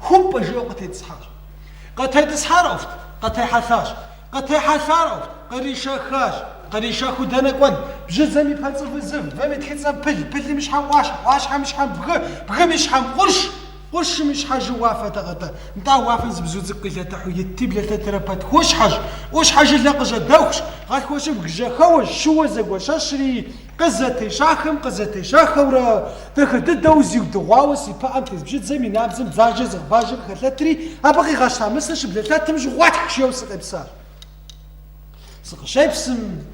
Хумпӏ жиӏэу къытетӏысхьащ. Къытетӏысхьар ӏуэхут, къытехьэлъащ. Къытехьэлъар ӏуэхут, къришэхащ. Къришэхыу дэнэ кӏуэн? Бжьыдзэм и пэнцӏыв зы вы, вым и тхыцӏэм пыл, пылым и щхьэм ӏуащхь, ӏуащхьэм и щхьэм бгы, бгым и щхьэм къурш, къуршым и щхьэжи уафэ тӏэгъэтӏэ. Нтӏэ, уафэм зы бзу цӏыкӏу къилэтыхьу итти, блэлъэтрэ пэт хущхьэщ. Ӏущхьэ жылэ къыжьэдэхущ, гъэлъхуэщыбг жьэхэуэщ, щыуэ зэгуэщэщри, Къызэтещахэм къызэтещахэурэ, дахэ дыдэу зиудыгъуауэ си пыӏэм тес бжьыдзэм и набдзэм бзаджэ зыгъэбажэм хэлъэтри, абы къигъэща мысыр щыблэлъэтым жьы гъуэтхщ еу сыкъепсар. Сыкъыщепсым,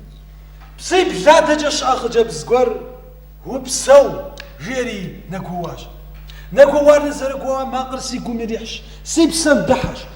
псибл адэкӏэ щыӏэ хъыджэбз гуэр, Упсэу! жиӏэри нэгуэуащ. Нэгуэуар нызэрыгуэуа макъыр си гум ирихьщ, си псэм дыхьэщ.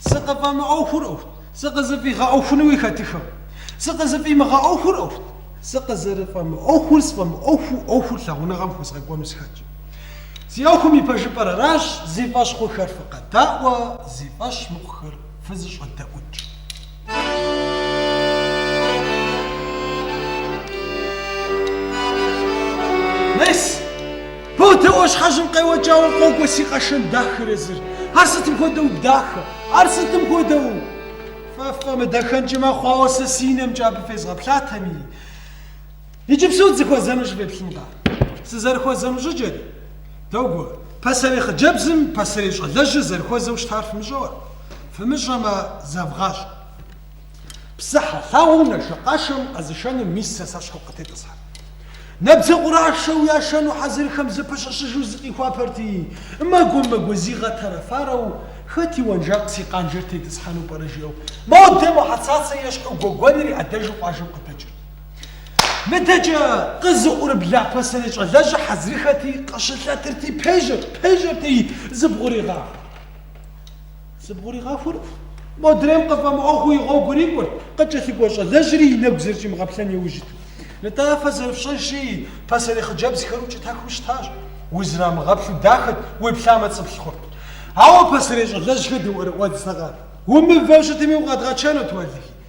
Сыкъыфӏэмыӏуэхур ӏуэхут, сыкъызыфӏигъэӏуэхунуи хэтыххэкъым. Сыкъызыфӏимыгъэӏуэхур ӏуэхут, сыкъызэрыфӏэмыӏуэхур сфӏэмыӏуэхуу ӏуэхур лъагъуныгъэм хуэзгъэкӏуэну сыхэткъэ. Си ӏуэхум и пэжыпӏэр аращ, зи фӏэщ хъухэр фыкъэдаӏуэ, зи фӏэщ мыхъухэр фызыщӏэдэӏукӏ. Мес! Модэ ӏуащхьэжьым къеуэкӏауэ къокӏуэ си къэшэн дахэр езыр. Ар сытым хуэдэу дахэ, ар сытым хуэдэу! Фэ ффӏэмыдэхэнкӏи мэхъу, ауэ сэ си нэмкӏэ абы фезгъэплъатэми. Иджыпсту дызэхуэзэнущи феплъынкъэ? Сызэрыхуэзэну щӏыкӏэри, догуэ. Пасэрей хъыджэбзым пасэрей щӏалэжьыр зэрыхуэзэу щытар фымыщӏэурэ? Фымыщӏэмэ, зэвгъащӏэ. Псыхьэ лъагъуэ нашэкъашэм къэзышэну мис сэ сэщхьу къытетӏысхьэ. Набдзэ къурашэу яшэну хьэзырхэм зэпэщӏэщыжу зыкъихуапэрти, мэгуэ-мэгуэ зигъэтэрэфарэу, хэт и уэнжакъ си къанжэр тетӏысхьэну пӏэрэ жиӏэу, модэ мо Хьэцацэ ещхьу гуэгуэныр и ӏэдэжу къуажэм къыдэкӏырт. Мыдэкӏэ къызыӏурыбла пасэрей щӏалэжьыр хьэзырыххэти, къыщылъэтырти, пежьэрт, пежьэрти, зыбгъуригъахурт. Зыбгъуригъахурт. Модрейм къыфӏэмыӏуэхуу и гъуэгур икӏурт, къыкӏэлъыкӏуэ щӏалэжьри и нэгу зэрыщӏимыгъэплъэн иужь итт. Нтӏэ, фэ зэрыфщӏэжри, пасэрей хъыджэбзхэр укӏытахыу щытащ. Узрамыгъэплъу дахэт, уеплъамэ цӏыплъ хъурт. Ауэ пасэрей щӏалэжьхэр дыӏуэрыӏуэдзтэкъэ? Умывэу щытми, укъэдгъэчэнут, уэлэхьи.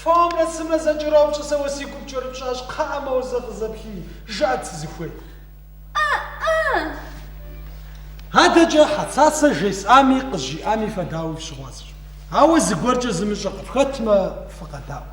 Фомрэ цымрэ зэкӏэропщӏ, сэ уэ си гур пкӏэрыпщӏащ, кхъыӏэ, моуэ зэ къызэплъи, жыӏэт сызыхуейр. Адэкӏэ Хьэцацэ жесӏами, къызжиӏами фэ дауи фщыгъуазэщ. Ауэ зыгуэркӏэ зымыщӏэ къыфхэтмэ, фыкъэдаӏуэ.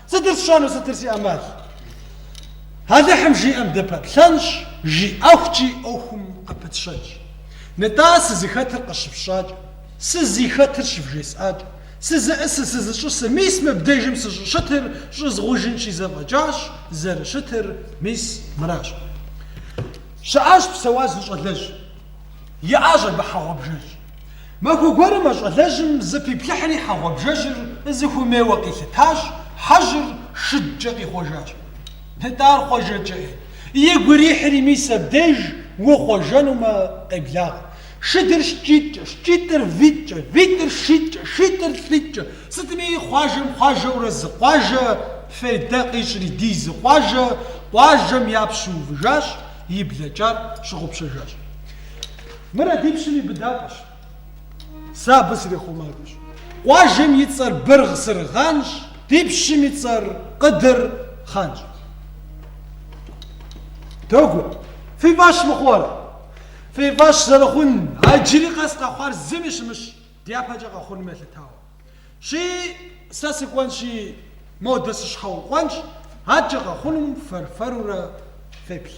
Сытыр сщӏэну, сытыр си ӏэмал? Алыхьым жиӏэм дыпэплъэнщ, жиӏэхукӏи ӏуэхум къыпытщэнщ. Нытӏэ, сызыхэтыр къыщыфщӏакӏэ, сызихэтыр щывжесӏакӏэ, сызыӏусыр, сызыщӏэсыр, мис мыбдежым сыщӏыщытыр щӏызгъужынщи зэфӏэкӏащ, зэрыщытыр мис мыращ. Щыӏащ псэуащ зы щӏалэжь, иӏащ абы хьэ гъуабжэжь. Махуэ гуэрым а щӏалэжьым зэпиплъыхьри хьэ гъуабжэжьыр зыхуэмейуэ къилъытащ, хьэжьыр шыдкӏэ къихъуэжащ. Нтӏэ ар хъуэжэкӏэ-ей! Игу ирихьри мис абдеж ухъуэжэнумэ къеблагъэ. Шыдыр шкӏитӏкӏэ, шкӏитӏыр витӏкӏэ, витӏыр шитӏкӏэ, шитӏыр лӏитӏкӏэ, сытми хъуажэм хъуажэурэ зы къуажэ фейдэ къищӏри ди зы къуажэ къуажэм япщу увыжащ, и блэкӏар щыгъупщэжащ. Мыр а ди пщым и быдапӏэщ. Сэ абы срихъумакӏуэщ. Къуажэм и цӏэр Быргъ-Сыргъанщ, ди пщым и цӏэр Къыдыр хъанщ. Догуэ, фи фӏэщ мыхъурэ? Фи фӏэщ зэрыхъун, а иджыри къэс къэхъуар зыми щымыщ. Дяпэкӏэ къэхъунум елъытауэ. Щи, сэ сыкӏуэнщи, модэ сыщхьэукъуэнщ, адэкӏэ къэхъунум фэр-фэрурэ феплъ.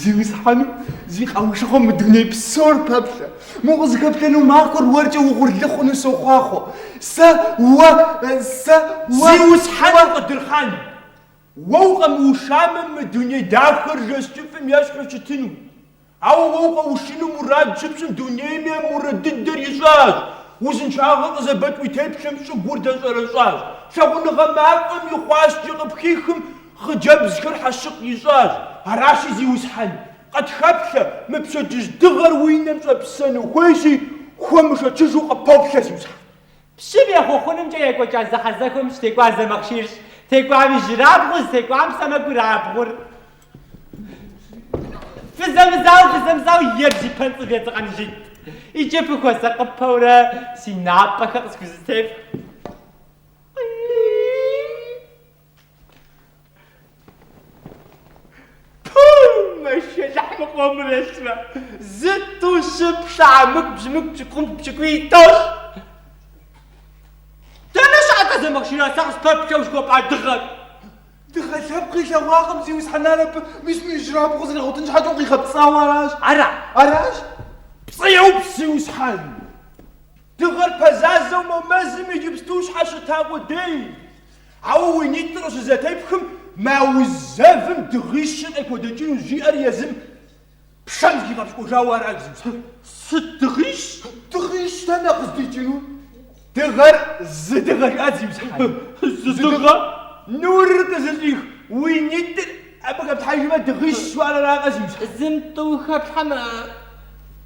Зиусхьэну зи къэушыгъуэм мы дуней псор пэплъэ. Мы укъызыхэплъэну махуэр уэркӏэ угъурлы хъуну сохъуахъуэ. Сэ уэ, сэ уэ... Зиусхьэну Къыдыр хъан! Уэ укъэмыушамэ, мы дуней дахэр жэщ кӏыфӏым ещхьу щытыну. Ауэ уэ укъэушыну мурад щыпщӏым дунейми а мурад дыдэр ищӏащ, узыншагъэр къызэбэкӏ уи теплъэм щӏыгур дэщӏэрэщӏащ, лъагъуныгъэ мафӏэм и хъуаскӏэ къыпхихым Хъыджэбзхэр хьэщыкъ ищӏащ, аращи, зиусхьэн, къытхэплъэ, мы пщэдджыжь дыгъэр уи нэм щӏэпсэну хуейщи, хуэмышэчыжу къыпоплъэ, зиусхьэн. Пщым ехъуэхъунымкӏэ екӏуэкӏа зэхьэзэхуэм щытекӏуар Зэмахъшийрщ, текӏуам ижьырабгъу, зытекӏуам сэмэгурабгъур. Фызэмызау, фызэмызау ебз и пэнцӏывэ едзыгъэн жыйт. Иджы фыхуэсакъыпэурэ си напӏэхэр къысхузэтефх. Мыхъуэмрэщмэ, зы тӏу щы пшыхьэ мыгу бжьымыгу пщыкӏум пщыкӏуи итӏощ. Дэнэ щыӏэ тӏэ, Зэмахъший, нтӏэ къыспэплъэу жыхуэпӏа дыгъэр? Дыгъэ лъэпкъ илъэгъуакъым, зиусхьэн, абы мы ижьырабгъу къызэригъуэтын щхьэкӏэ укъигъэпцӏауэ аращ. Ара? Аращ? Пцӏы еупс, зиусхьэн. Дыгъэр пэзазэу мо мэзым иджыпсту щхьэщыта къудей? Ауэ уи нитӏыр къыщызэтепхым, мо ауз зэвым дыгъищыр къыпхудэкӏынущ, жиӏэр езым пшэм зигъэпщкӏуэжауэ арат зиусхьэн. Сыт дыгъищ? Дыгъищ дэнэ къыздикӏыну? Дыгъэр зы дыгъэ жаӏат зиусхьэн. Зы дыгъэ? Нурыр къызыщӏих уи нитӏыр абы хэплъхьэжмэ, дыгъищ жыхуаӏэр аракъэ зиусхьэн? Зым тӏу хэплъхьэмэ.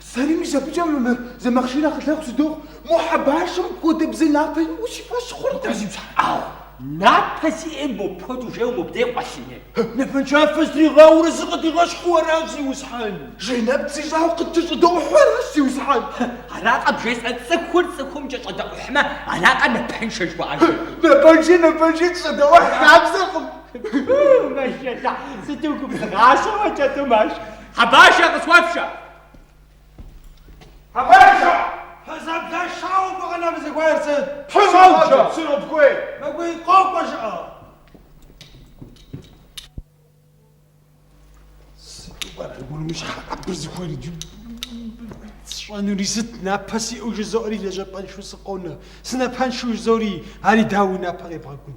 Сэри мис абыкӏэ мы Зэмахъшир акъылэгъу сыдохъу, мо Хьэбашэм хуэдэбзэ напэ иӏэу си фӏэщ хъуркъым. Зиусхьэн. Ау, напэ зиӏэ мыпхуэдэу жеуэ мыбдей къуэлъыне. Напэншафэ зытригъауэрэ зыкъыдигъэщхьу аращ, Зиусхьэн. Жей нэпцӏ ищӏауэ къыткӏэщӏэдэӏухьу аращ, Зиусхьэн. Аракъэ бжесӏэ цӏыхур цӏыхум кӏэщӏэдэӏухьмэ, аракъэ напэншэ жыхуаӏэжыр. Напэнши, напэнши, щӏэдэӏухь хабзэкъым. Мэшэла, сыту губзыгъащэу а кӏэтӏум ащ Хьэбашэ къысхуэфшэ! Хьэбашэ! Пэзэблэшауэ гу къэнэм зыхуейр сыт? Псалджэ! Сыробкуей! Мыгуи къокӏуэ жыӏэ! Абы зыхуейр сщӏэнури сыт? Напэ сиӏэу жызоӏэри лэжьапӏэншэу сыкъонэ. Сынапэншэу жызоӏэри, ари дауи напэ къебгъэкӏун.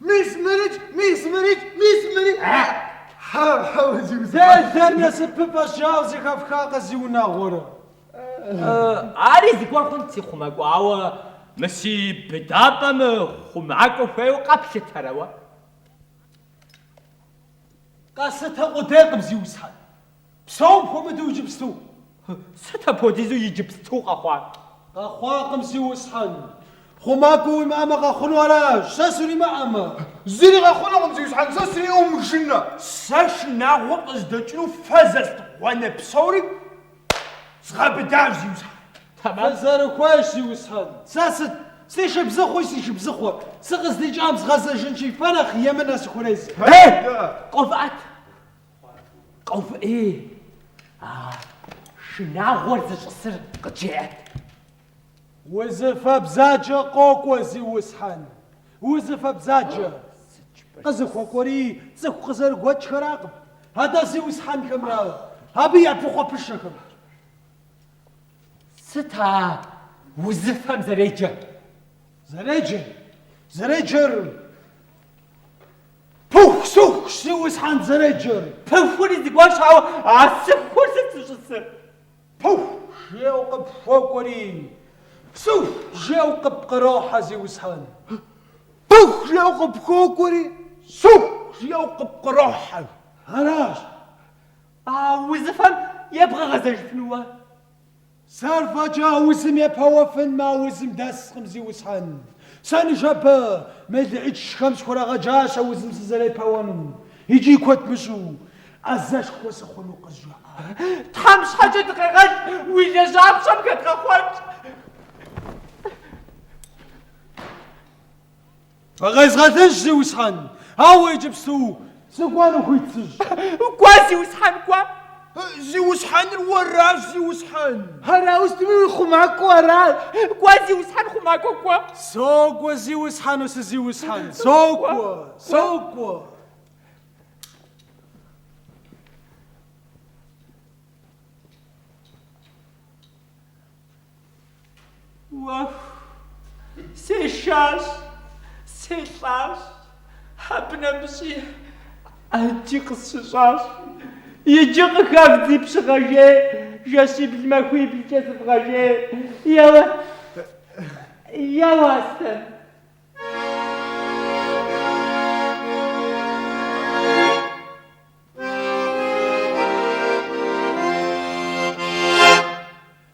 Мис мырыкӏ, мис мырыкӏ, мис мырыкӏ! Хьэу-хьэу зиусхьэн! Делэр насыпыфӏэщ жаӏэу зэхэфхакъэ зиунагъуэрэ? Ари зыгуэр хъунт си хъумакӏуэ, ауэ мы си быдапӏэм хъумакӏуэ хуейуэ къэплъытэрэ уэ? Къэслъытэ къудейкъым, зиусхьэн! Псом хуэмыдэу иджыпсту. Сыт апхуэдизу иджыпсту къэхъуар? Къэхъуакъым, зиусхьэн. Хъумакӏуэ уимыӏэмэ, къэхъуну аращ, сэ сримыӏэмэ. Зыри къэхъунукъым, зиусхьэн, сэ сриӏумжынэ. Сэ шынагъуэ къыздэкӏыну фэ зытет гъуанэ псори згъэбыдащ, зиусхьэн. Фызэрыхуейщ, зиусхьэн. Сэ сыт? Си шыбзыхъуи си шыбзыхъуэ. Сыкъыздикӏам згъэзэжынщи, фэ нэхъ емынэ сыхурезэ. Ей, къэувыӏэт! Къэувыӏэ, ей! А шынагъуэр зыщӏысыр къыджеӏэт. Узыфэ бзаджэ къокӏуэ, зиусхьэн, узыфэ бзаджэ. Къызыхуэкӏуэри цӏыху къызэрыгуэкӏхэракъым, атӏэ зиусхьэнхэмрэ абы я пыхъуэпышэхэм. Сыт а узыфэм зэреджэр? Зэреджэр? Зэреджэр? Пыхусыху Зиусхьэн зэреджэр. Пыхури зыгуэрщ, ауэ а сыхур сыт зыщӏысыр? Пыху жеу къыпхокӏуэри, сыху жеу къыпкърохьэ Зиусхьэн. Пыху жеу къыпхокӏуэри, сыху жеу къыпкърохьэ. Аращ. А узыфэм ебгъэгъэзэжыфынуэ? Сэр фӏэкӏа а узым епэуэфын мы аузым дэскъым, Зиусхьэн. Сэ ныжэбэ, мелыӏычхэм сыхурагъэджащ а узым сызэрепэуэнум, икӏи куэд мыщӏу, ӏэзэшхуэ сыхъуну къызжаӏэ. Тхьэм щхьэкӏэ дыкъегъэл, уи лэжьапщӏэм хэдгъэхъуэнт. Къезгъэлынщ, Зиусхьэн! Ауэ иджыпсту сыкӏуэну хуит сыщӏ. Кӏуэ, Зиусхьэн, кӏуэ! Зиусхьэныр уэращ, Зиусхьэн! Ар ауэ сытми хъумакӏуэ аращ! Кӏуэ, Зиусхьэн хъумакӏуэ, кӏуэ! Сокӏуэ, Зиусхьэну си зиусхьэн, сокӏуэ, сокӏуэ! Уэху, сешащ, селӏащ, абы нэмыщӏи ӏэджи къысщыщӏащ. Иджы къыхэвдзи пщыгъэжей, жэщибл-махуиблкӏэ сывгъэжей. Еуэ, еуэ, Аслъэн.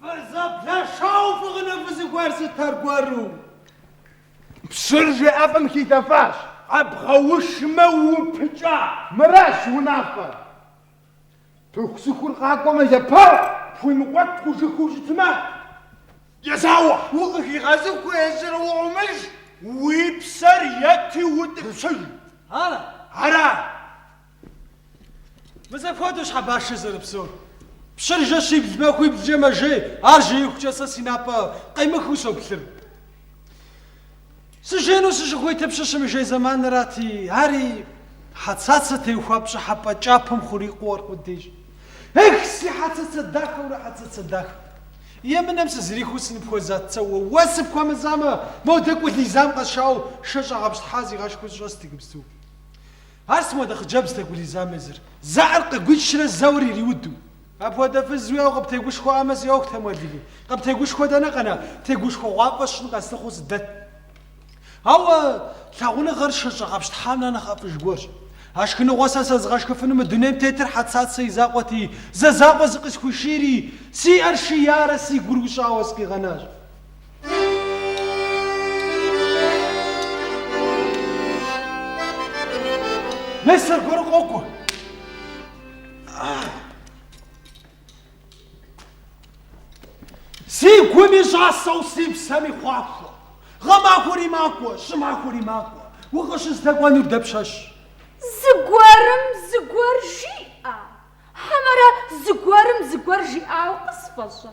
Фызэблэшауэ фыгъыну фызыхуейр сыт аргуэру? Пщыр жей ӏэфӏым хилъэфащ. Къэбгъэушмэ, упыкӏа. Мыращ унафэр. Пыхусыхур къакӏуэмэ, епэуэ, пхуимыкӏуэтыжыххэу щытмэ, езауэ. Укъыхигъэзыхьу езыр уӏумыж, уи псэр ети утӏыпщыж. Ара? Ара. Мис апхуэдэущ Хьэбашэ зэрыпсэур. Пщыр жэщибл-махуиблкӏэ мэжей, ар жеихукӏэ сэ си напӏэ къемыхыу соплъыр. Сыжейну сыщыхуитыр пщыр щымыжей зэманрати, ари Хьэцацэ теухуа пщӏыхьэпӏэ кӏапэм хурикъуу аркъудейщ. Эх, си Хьэцацэ дахэурэ Хьэцацэ дахэ! Емынэм сызэрихуэу сыныпхуэзат сэ уэ, уэ сыпхуэмызамэ, модэ Гулизам къэсшауэ шэ щӏэгъэпщтхьа сигъэшхыу сыщӏэст иджыпсту. Ар сыт хуэдэ хъыджэбзт а Гулизам езыр? Зэӏэр къыгуичрэ зэуэр ириуду? Апхуэдэ фыз уиӏэу къыптегушхуамэ, си ӏуэхутэм, уэлэхьи. Къыптегушхуэ дэнэ къэна, тегушхуэгъуафӏэ сщӏын къэслъыхъуэу сыдэт. Ауэ лъагъуныгъэр шэ щӏэгъэпщтхьам нэхърэ нэхъ ӏэфӏыж гуэрщ. А шхыныгъуэ сэ сэзыгъэшхыфыну мы дунейм тетыр Хьэцацэ и закъуэти, зэ закъуэ зыкъысхуишийри, си ӏэр шиярэ си гур ущӏауэ сыкъигъэнащ. Мес, зыгуэр къокӏуэ. Си гум и щӏасэу си псэм и хъуахуэ. Гъэмахуэри макӏуэ, щӏымахуэри макӏуэ. Укъыщыздэкӏуэнур дэпщэщ. Зыгуэрым зыгуэр жиӏэ. Хьэмэрэ зыгуэрым зыгуэр жиӏауэ къысфӏэщӏа?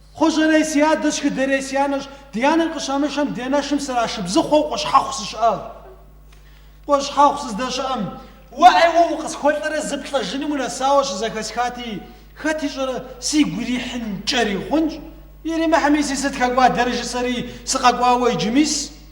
Хъущӏэрей си адэщ, Шхыдэрей си анэщ, ди анэр къыщамышэм ди анэшым срашыбзыхъуэу Къущхьэхъу сыщыӏащ. Къущхьэхъу сыздэщыӏэм, уэӏей уэ укъысхуэлӏэрэ зыплӏэжыным унэсауэ щызэхэсхати, хэт ищӏэрэ, сигу ирихьынкӏэри хъунщ, иримыхьми си сыт хэкӏуадэрэ жысӏэри, сыкъэкӏуауэ иджы мис.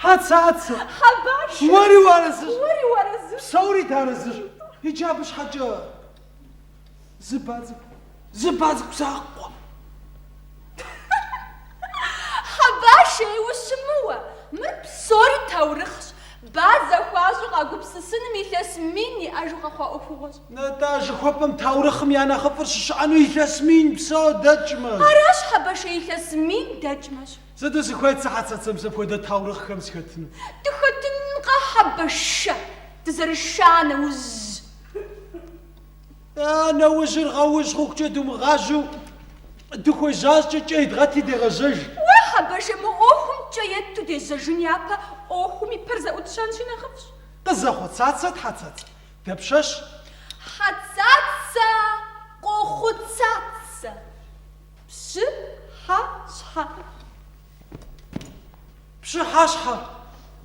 Хьэцацэ! Хьэбэшэ! Уэри уарэзыщ! Уэри уарэзыщ! Псори дарэзыщ! Иджы абы щхьэкӏэ зы ба цӏыкӏу, зы ба цӏыкӏу закъуэ! Хьэбар шей ущымыуэ! Мыр псори таурыхъщ. Ба зэхуащӏу къагупсысыным илъэс мин иӏэжу къэхъуа ӏуэхугъуэщ. Нтӏэ, жыхуэпӏэм таурыхъым я нэхъыфӏыр щыщыӏэну илъэс мин псо дэкӏмэщ. Аращ, Хьэбэшэ, илъэс мин дэкӏмэщ. Сыту сыхуейт, си Хьэцацэ, мис апхуэдэ таурыхъхэм схэтыну. Дыхэтынкъэ, Хьэбэшэ, дызэрыша нэужь. А, нэужьыр гъэужь хъухукӏэ думыгъажьэу, дыхуежьащкӏэ кӏэ едгъэти дегъэжьэж. Уэ, Хьэбэшэ, мы ӏуэхум кӏэ етту дежьэжын япэ ӏуэхум и пэр зэӏутщэнщи нэхъыфӏщ. Къызэхъуцацэт, Хьэцацэ, дапщэщ? Хьэцацэ, къохъуцацэ. Пщы-хьэ-щхьэ. Пщы-хьэ-щхьэ.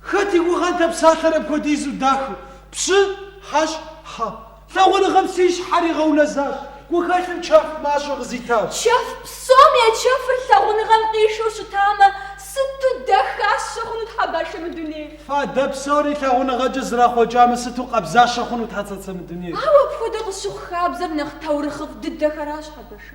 Хэт и гугъэнт а псалъэр апхуэдизу дахэу? Пщы-хьэ-щхьэ. Лъагъуныгъэм си щхьэр игъэунэзащ, гухэлъым чэф мащӏэ къызитащ. Чэф псом я чэфыр лъагъуныгъэм къишэу щытамэ, сыту дахащэ хъунут, Хьэбэшэ, мы дунейр! Фадэ псори лъагъуныгъэкӏэ зэрахъуэкӏамэ, сыту къабзащэ хъунут, Хьэцацэ, мы дунейр! Ауэ апхуэдэ къыщыхъу хабзэр нэхъ таурыхъыфӏ дыдэхэращ, хьэбэшэ.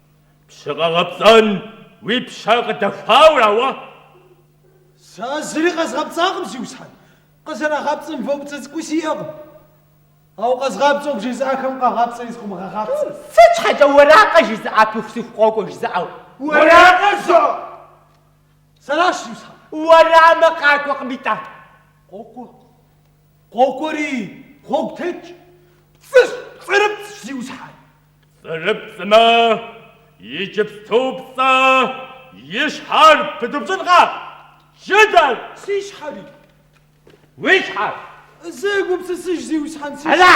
Пщы къэгъэпцӏэн уи пщэ къыдэхуауэ ара уэ? Сэ зыри къэзгъэпцӏакъым, зиусхьэн. Къызэрагъэпцӏэн вэу цӏыкӏуи сиӏэкъым. Ауэ къэзгъапцӏэу бжезыӏэхэм къагъапцӏэри зыкъымыгъэгъапцӏэ. Сыт щхьэкӏэ уэракъэ жызыӏа пыхусыху къокӏуэ жызыӏэу? Уэракъэ жо! Сэращ, зиусхьэн. Уэрамэ къакӏуэкъым итӏэ. Къокӏуэ. Къокӏуэри, гъуэгу тетщ. Пцӏыщ, пцӏырыпцӏщ, зиусхьэн. Пцӏырыпцӏмэ, иджыпступцӏэ и щхьэр пыдупщӏынкъэ, джыдэр? Си щхьэри? Уи щхьэр? Зэ гупсысыж, Зиусхьэн, си щхьэр. Хьэла!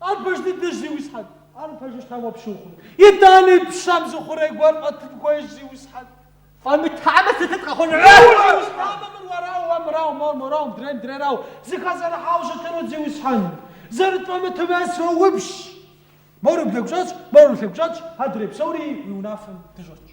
Ар пэж дыдэщ, зиусхьэн. Ар пэжу щытам уэ пщы ухъуну? Итӏани пщэм зы хъурей гуэр фӏэтын хуейщ, зиусхьэн. Фӏэмытамэ, сытыт къэхъунур? Ауэ, зиусхьамэ, мыр уэрау, уэ мырау, мор морау, мыдрейм дрейрау, зыхэзэрыхьауэ щытынут, зиусхьэн. Зэрыт фӏэмытымэ, соупщӏ. Мор уи блэгущӏэтщ, мор уи лъэгущӏэтщ, адрей псори уи унафэм дыщӏэтщ.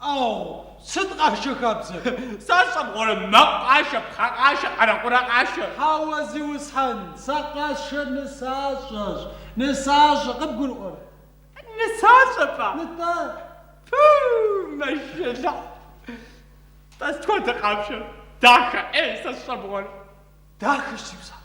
Ау, сыт къашэ хабзэр? Сэ сщӏэ мыгъуэрэ, мэкъу къашэ, пхъэ къашэ, къэрэкъурэ къашэ. Хьэуэ, Зиусхьэн, сэ къашэр нысащӏэщ. Нысащӏэ, къыбгурыӏуэрэ? Нысащӏэ пӏа? Нтӏэ. Пу, мэшэлыхь. Тӏэ сыт хуэдэ къашэр? Дахэ, ӏей, сэ сщӏэ мыгъуэрэ. Дахэщ, зиусхьэн.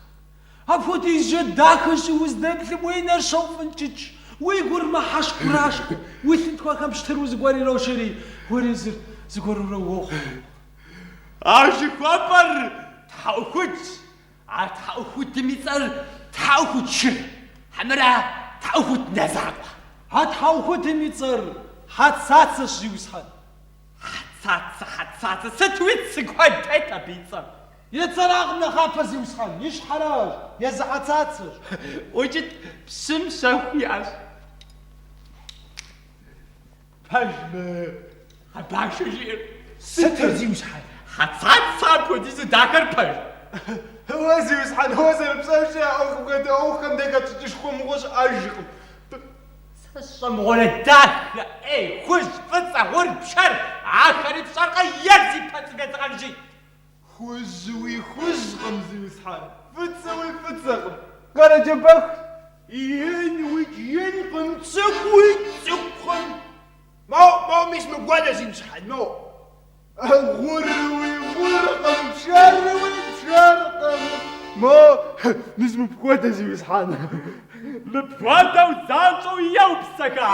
Апхуэдизкӏэ дахэщи, уздэплъым уи нэр щоуфӏынкӏыкӏ, уи гур мыхьэщ хурашхъу, уи лъынтхуэхэм пщтыру зыгуэр ирожэри, уэри зыр зыгуэрурэ уохъу. А жыхуэпӏэр тхьэӏухудщ. А тхьэӏухудым и цӏэр Тхьэӏухуд Шыр, хьэмэрэ Тхьэӏухуд Нэ закъуэ. А тхьэӏухудым и цӏэр Хьэцацэщ, зиусхьэн. Хьэцацэ, Хьэцацэ, сыту цы куэд тет абы и цӏэм? И цӏэракъым нэхъапэ, зиусхьэн, и щхьэращ, езы Хьэцацэщ. Укӏыт, псым щэху иӏэщ. Пэжмэ, а башыр жиӏэр сытыр зиусхьэн? Хьэцацэ апхуэдизу дахэр пэж. Уэ зиусхьэн, уэ зэрыпсэущи, а ӏуэхум хуэдэ ӏуэхухэм дэ хэпщӏыкӏышхуэ мыгъуэ щыӏэжкъым. Сэ сщӏэ мыгъуэрэ дахэ, ӏей, хужь, фӏыцӏэ, гъур, пшэр, ахэри пщӏэркъэ е зи пэцӏы дэдгъэнжи? Хужьуи хужькъым, зиусхьэн, фӏыцӏэуи фӏыцӏэкъым, Къэрэджэбэхт. Инуи инкъым, цӏыкӏуи цӏыкӏукъым. Мо, мо, мис мыхуэдэ, зиусхьэн, мо. Гъуруи гъуркъым, пшэруи пшэркъым. Мо, мис мыпхуэдэ, зиусхьэн. Мыпхуэдэу занщӏэу еупсыха!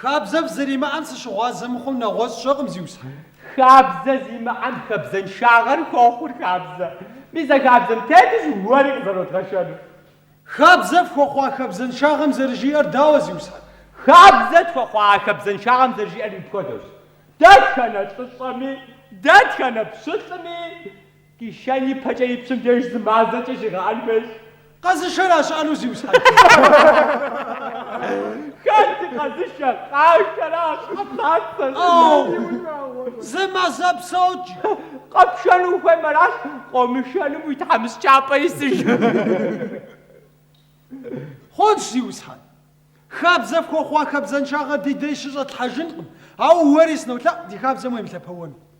Хабзэ фызэримыӏэм сыщыгъуазэ мыхъум нэгъуэщӏ сщӏэкъым, зиусхьэн. Хабзэ зимыӏэм хабзэншагъэр хуохъур хабзэ. Мис а хабзэм тетущ уэри къызэродгъэшэнур. Хабзэ фхуэхъуа хабзэншагъэм зэрыжиӏэр дауэ, зиусхьэн? Хабзэ тхуэхъуа а хабзэншагъэм зэрыжиӏэр мыпхуэдэущ, дэтхэнэ лӏыщӏэми, дэтхэнэ пщылӏми, Къишэн ипэкӏэ и пщым деж зы мазэкӏэ щигъэӏэн хуейщ. Къэзышэра щыӏэну, зиусхьэн? Хэт ди къэзышэ? Къашэращ, къэплъатэ, зыми унагъуэ. Зы мазэ псокӏэ. Къэпшэн ухуеймэ аращ, къомышэнум уи тхьэмыщкӏапӏэ исыж. Хъунщ, зиусхьэн. Хабзэ фхуэхъуа хабзэншагъэ ди дей щыщӏэтлъхьэжынкъым, ауэ уэри сынолъэӏу ди хабзэм уемылъэпэуэну.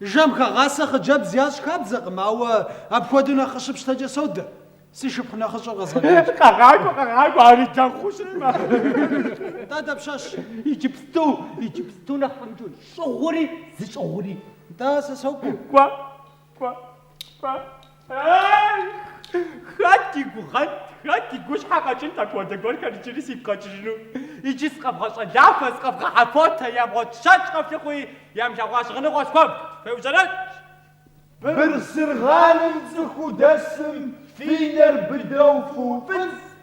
Жэм хэгъасэ хъыджэбз ящӏ хабзэкъым, ауэ апхуэдэу нэхъ къыщыпщтэкӏэ содэ. Си шыпхъу нэхъыщӏэр къэзгъэкӏуэнщ. Къэгъакӏуэ, къэгъакӏуэ, ари дэгъуу щытмэ. Нтӏэ, дапщэщ? Иджыпсту, иджыпсту нэхъ фӏэмыкӏыу, щӏыгъури зыщӏыгъури. Нтӏэ, сэ сокӏуэ. Кӏуэ, кӏуэ. Хэт и гугъэнт, хэт и гущхьэ къэкӏынт апхуэдэ гуэрхэр иджыри сигу къэкӏыжыну? Иджы сыкъэвгъэщӏэлафэ, сыкъэвгъэхьэфотэ, ямыгъуэт щэкӏ къэфлъыхъуи, ямылъэгъуа щыгъыныгъуэ схуэвд, феужьэрэкӏ. Бырсыргъаным цӏыху дэсым фи нэр быдэу фыуфӏыцӏ.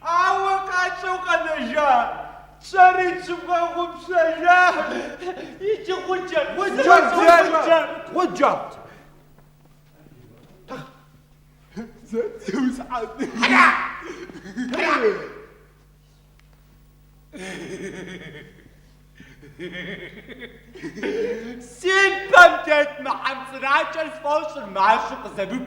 Ауэ гъащӏэу къэнэжа псори щывгъэгъупщэжащ. Иджы гъуджэ, гъуджэ, гъуджэ, гъуджэ. Си пэм тет мы хьэмцӏыракӏэр сфӏощӏыр мащӏэу къызэрыт.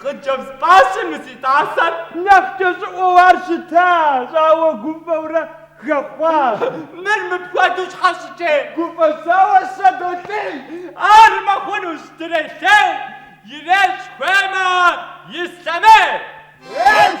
Хъыджэбз пӏащэ мы си тӏасэр. Нэхъ кӏэщӏыӏуэу ар щытащ, ауэ гуфӏэурэ хэхъуащ. Мыр мыпхуэдэу щхьэ щытей? Гуфӏэщауэ сыдолъей. Ар мыхъунущ, дрелъей. Ирещӏ хуеймэ ислъэмей. Ес!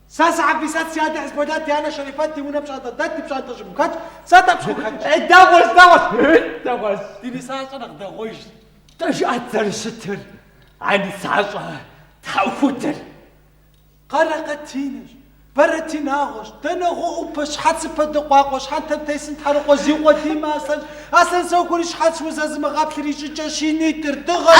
Сэ сы-Хьэфисэт, си адэ Хьизболлат, ди анэ Шэрифат, ди унэ пщӏантӏэ дэт, ди пщӏантӏэ щӏыгум хэтщ, сэ тӏэпщкӏуу хэтщ. Э, дэгъуэщ, дэгъуэщ, ы, дэгъуэщ. Ди нысащӏэр нэхъ дэгъуэжщ. Нтӏэ жыӏэт зэрыщытыр, а нысащӏэ тхьэӏухудыр. Къэрэкъэтинэщ, бэрэтинагъуэщ, дэнэгъуэӏупэщ, щхьэцыпэ дыкъуакъуэщ, щхьэнтэм тесым тхьэрыкъуэщ, зиукъуэдиймэ аслъэнщ, аслъэнсэухури щхьэц узэзымыгъэплъыр и щӏыкӏэщ, и нитӏыр дыгъэщ.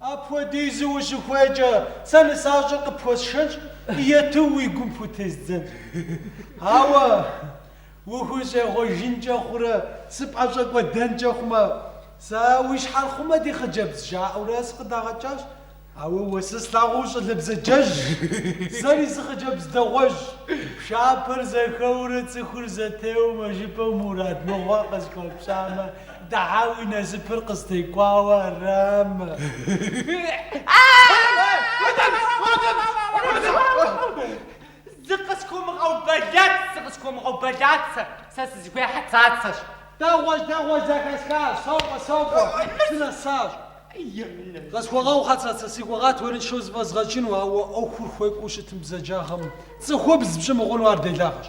Апхуэдизу ущыхуейкӏэ, сэ нысащӏэр къыпхуэсшэнщ, ету уи гум пхутездзэнщ. Ауэ ухущӏегъуэжынкӏэ хъурэ, сыпӏэщӏэкӏуэдэнкӏэ хъумэ, сэ уи щхьэр хъумэ, ди хъыджэбз, жаӏэурэ сыкъыдагъэкӏащ. Ауэ уэ сэ слъагъуу ущӏалэ бзаджэжьщ. Сэри сыхъыджэбз дэгъуэжьщ. Пшапэр зэхэуэурэ цӏыхур зэтеуэмэ жыпӏэу мурад мыгъуэ къысхуэпщӏамэ, Тхьэ, уи насыпыр къыстекӏуауэ арамэ? Зыкъысхуумыгъэубэлэц, зыкъысхуумыгъэубэлэц, сэ сызыхуейр Хьэцацэщ. Дэгъуэщ, дэгъуэщ, зэхэсхащ, сокӏуэ, сокӏуэ, сынэсащ. Къысхуэгъэу, Хьэцацэ, си гугъат уэрыншэу зэфӏэзгъэкӏыну, ауэ ӏуэхур хуекӏуу щытым бзаджагъэм цӏыхубз пщӏы мыхъуну ар делагъэщ.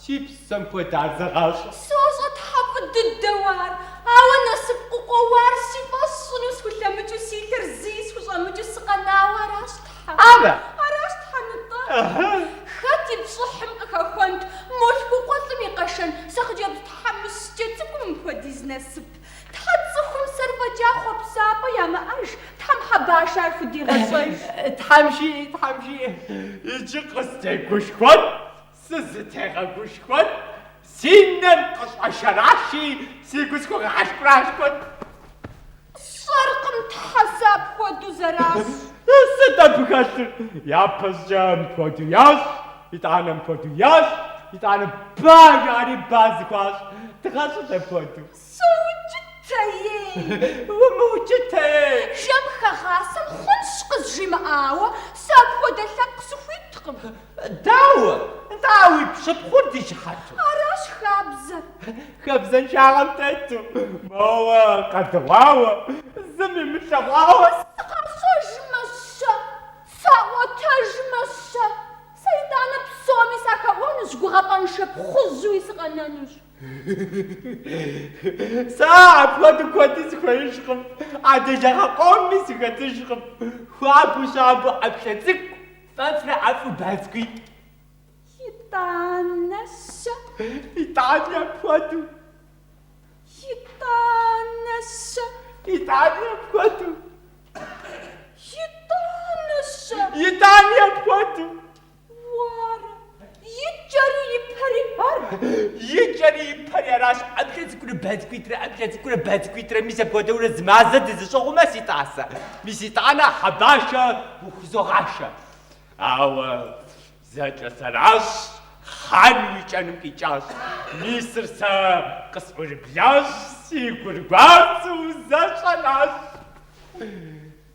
Си псэм хуэдэ ар зэгъащӏэ. Сощӏэ Тхьэ фӏы дыдэу ар, ауэ насып къыкъуэуар си фӏэщ сщӏыну схулъэмыкӏыу си лъыр зыи схущӏэмыкӏыу сыкъэнауэ аращ Тхьэ. Ара? Аращ Тхьэ нытӏэ. Ыхьы. Хэт и пщӏыхьым къыхэхуэнт мо лъхукъуэлӏым и къэшэн сэ хъыджэбз тхьэмыщкӏэ цӏыкӏум мыпхуэдиз насып? Тхьэ цӏыхум сэр фӏэкӏа хъуэпсапӏэ ямыӏэж, Тхьэм Хьэбашэ ар худигъэщӏэж. Тхьэм жиӏэ, Тхьэм жиӏэ. Иджы къыстегушхуэт, Сызытегъэгушхуэт, си нэр къыщӏэшэраши, си гу схуэгъэхьэшкӏурашхуэт. Сщӏэркъым Тхьэ сэ апхуэдэу зэращӏ. Сыт абы хэлъыр? Япэщӏыкӏэ мыпхуэдэу ящӏ, итӏанэ мыпхуэдэу ящӏ, итӏанэ ба жаӏэри ба зэхуащӏ. Дыгъэщӏыт апхуэдэу. Соукӏытэей! Умыукӏытэей! Жэмхэгъасэм хъунщ къызжимыӏауэ, сэ апхуэдэ лъэпкъ сыхуиткъым. Дауэ? Нтӏэ, а уи пщыпхъур ди щыхьэту? Аращ хабзэр. Хабзэншагъэм тету, моуэ къэдыгъуауэ, зыми имылъэгъуауэ. Сыкъащӏэжмэ-щэ? Саӏуэтэжмэ-щэ? Сэ итӏанэ псоми сахэӏуэнущ, гугъапӏэншэ пхъужьуи сыкъэнэнущ. Сэ апхуэдэу куэди сыхуеижкъым, а делагъэ къомми сыхэтыжкъым. Хуабэу щабэу ӏэплӏэ цӏыкӏу, фӏэфӏрэ ӏэфӏу ба цӏыкӏуитӏ. Итӏанэ-щэ? Итӏани апхуэдэу. Итӏанэ-щэ? Итӏани апхуэдэу. Итӏанэ-щэ? Итӏани апхуэдэу. Уара, и кӏэри и пэри ар? И кӏэри и пэри аращ, ӏэплӏэ цӏыкӏурэ ба цӏыкӏуитӏрэ, ӏэплӏэ цӏыкӏурэ ба цӏыкӏуитӏрэ, мис апхуэдэурэ зы мазэ дызэщӏыгъумэ, си тӏасэ. Мис итӏанэ Хьэбашэ ухузогъашэ. Ауэ зэкӏэ сэращ хъан уи кӏэныр къикӏащ. Мисыр сэ къысӏурыблащ, си гур гуащӏэу зэщӏэнащ.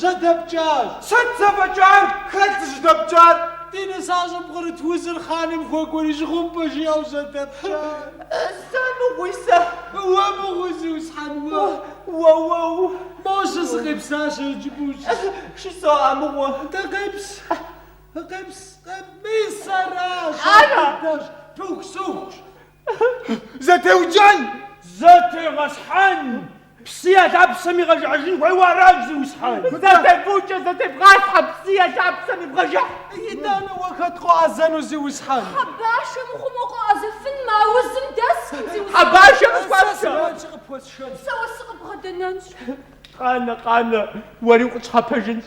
жьэдэпкӏащ. Сыт жьэдэпкӏар? Хэт зыжьэдэпкӏар? Ди нысащӏэм пкърыт узыр хъаным хуэкӏуэри жьгъумпӏэ жиӏэу жьэдэпкӏащ. Сэ мыгъуи сэ? Уэ мыгъуи, зиусхьэн, уэ? Уэ, уэу. Мощэ, сыкъепсащ иджыпӏущ. Щысо а мыгъуэ. Дэ къепс. Къепс, къепс. Мис аращ. Ара? Дыдэщ. Пыхусыхущ. Зэтеукӏэн! Зэтегъэсхьэн! Псы я лъапсэм игъэжыхьыжын хуейуэ аращ, зиусхьэн! Зэтебукӏэ, зэтебгъасхьэ, псы я лъапсэм ибгъэжыхь! Итӏанэ уэ хэт къоӏэзэну, зиусхьэн? Хьэбашэ мыхъумэу къоӏэзэфын мы аузым дэскым, зиусхьэн! Хьэбашэ къысхуэшэ! Сэ сымаджэ къыпхуэсшэн! Сэ уэ сыкъыбгъэдэнэнщ! Къанэ, къанэ, уэри укъытщхьэпэжынщ!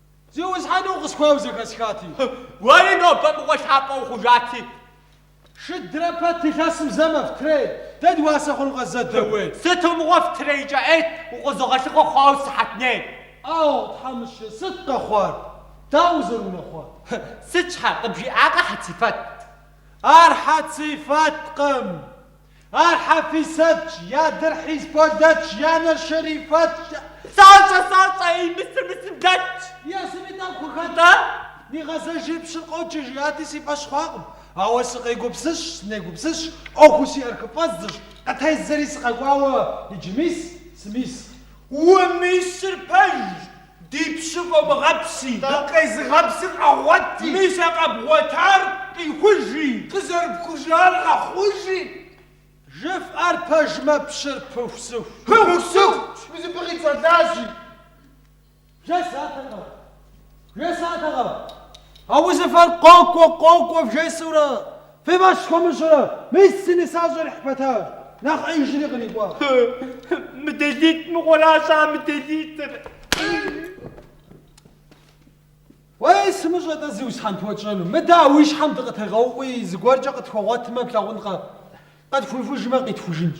Зиусхьэн, укъысхуейуэ зэхэсхати. Уэри нобэ мыгъуэ лъапӏэ ухъужати. Шыдрэ пэт илъэсым зэ мэфтрей. Дэ дыуасэ хъуну къэс зэ дэуей. Сыту мыгъуэ фтрейкӏэ ӏейт, укъызогъэлъыхъуэ хъуауэ сыхьэтней. Ау, тхьэмыщкӏэ, сыт къэхъуар, дауэ узэрыунэхъуар? Сыт щхьэ, къыбжиӏакъэ Хьэцифэт? Ар Хьэцифэткъым. Ар Хьэфисэтщ, и адэр Хьизболэтщ, и анэр Шэрифэтщ. Псалъэ, салъэ, ей, мысыр, мысымбетщ. Есуми тӏэкӏу къыхэтщ. Нигъэзэжи, пщыр къоджэ, жиӏати, си фӏэщ хъуакъым. Ауэ сыкъегупсысщ, сынегупсысщ, ӏуэхуу сиӏэр хыфӏэздзэщ, къытеззэри сыкъэкӏуауэ иджы мис, сымис. Умисыр пэжщ. Ди пщы фӏомыгъэпси. Дыкъезыгъэпсыр къэгъуэти. Мис а къэбгъуэтар къихужи. Къызэрыпхужар къэхъужи. Жыфӏэр пэжмэ, пщыр пыхусыху. Пыхусыху пщӏызыпӏи къицӏэлащи. Жесӏатэкъэ, жесӏатэкъэ. А узыфэр къокӏуэ-къокӏуэ вжесӏэурэ. Фи фӏэщ схуэмыщӏрэ? Мис си нысащӏэр ихь пэтащ, нэхъ ӏеижри кърикӏуащ. Мыделитӏ мыгъуэращ а мыделитӏыр. Уей, сымыщӏэ-тӏэ зиусхьэн пхуэтщӏэну? Мыдэ а уи щхьэм дыкъытегъэуӏуи, зыгуэркӏэ къытхуэгъуэтмэ, плъагъункъэ? Къытхуихужмэ, къитхужынщ.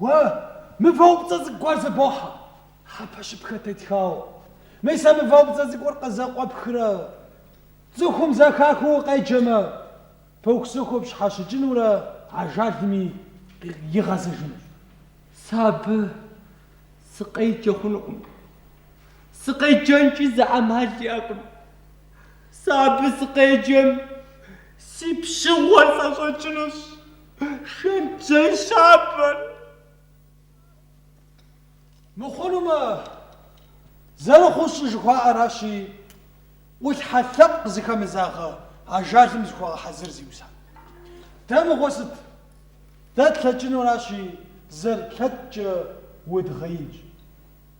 Уэ мывэупцӏэ цӏыкӏу гуэр зэбохьэ, хьэпэщыпхэ тетхауэ. Мис а мывэупцӏэ цӏыкӏур къызэкъуэпхрэ цӏыхум зэхахыу укъеджэмэ, пыхусыху пщхьэщыкӏынурэ ажалми игъэзэжынущ. Сэ абы сыкъеджэ хъунукъым. Сыкъеджэнкӏи зы ӏэмал иӏэкъым. Сэ абы сыкъеджэм си пщыгъуэр сӏэщӏэкӏынущ. Шэнтжьей щабэр. Мыхъунумэ, зэрыхъуу щӏы жыхуаӏэращи, ӏулъхьэ лъэпкъ зыхэмызагъэ ажалым зыхуэгъэхьэзыр зиусхьэн. Дэ мыгъуэ сыт? Дэ тлъэкӏынуращи, зэрытлъэкӏкӏэ удгъеинщ.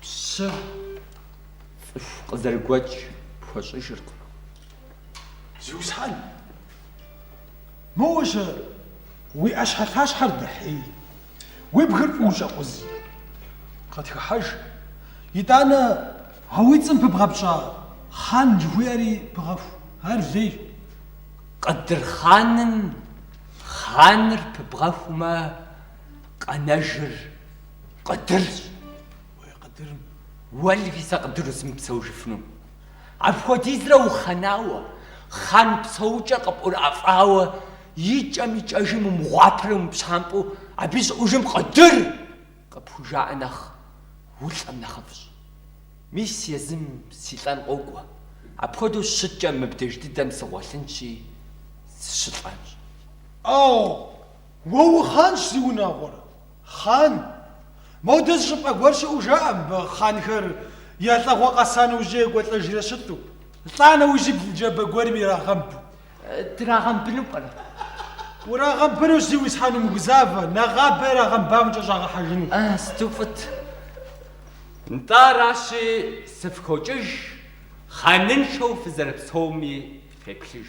Пщы цӏыху къызэрыгуэкӏ пхуэщӏыжыркъым. Зиусхьэн! Моуэ щэ уи ӏэщхьэлъащхьэр дэхьей, уи бгыр фӏыуэ щӏэкъузи. Къытхыхьэж, итӏанэ а уи цӏэм пыбгъэпщӏа хъан жыхуиӏэри пыгъэху, ар лейщ. Къыдырхъаным хъаныр пыбгъэхумэ, къэнэжыр Къыдырщ. Уей къыдырым уэлви сэ къыдыру сымыпсэужыфыну. Апхуэдизрэ ухъэнауэ, хъан псэукӏэ къыпӏурыӏэфӏауэ и кӏэм и кӏэжым умыгъуапэрэ умыпщампӏэу абы и щӏыӏужым Къыдыр! къыпхужаӏэ нэхъ улӏэм нэхъыфӏщ. Мис езым си лӏэн къокӏуэ, апхуэдэу щыткӏэ мыбдеж дыдэм сыгъуэлъынщи, сыщылӏэнщ. Ӏэу! Уэ ухъанщ зи унагъуэрэ, хъан. Модэ зы щӏыпӏэ гуэр щыӏэу жаӏэ мыбы хъанхэр я лӏэгъуэ къэса нэужь екӏуэлӏэжрэ щыту, лӏа нэужь бгы джабэ гуэрым ирагъэмбу. Драгъэмбыну пӏэрэ? Урагъэмбынущ, зи уисхьэн, умыгузавэ, нэгъабэ ирагъэмбамкӏэ щӏагъэхьэжыну. Сыту фӏыт! Нтӏэ аращи, сыфхокӏыж, хъаныншэу фызэрыпсэуми феплъыж.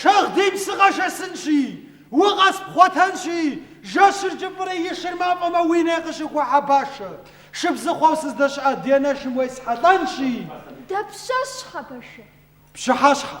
Шагъдийм сыкъэшэсынщи, укъэспхъуэтэнщи, жэщыр кӏыфӏри и шыр мафӏэмэ уи ней къыщыхуа, Хьэбашэ, шыбзыхъуэу сыздэщыӏа ди анэшым уесхьэлӏэнщи. Дапщэщ, Хьэбашэ? Пщыхьэщхьэ.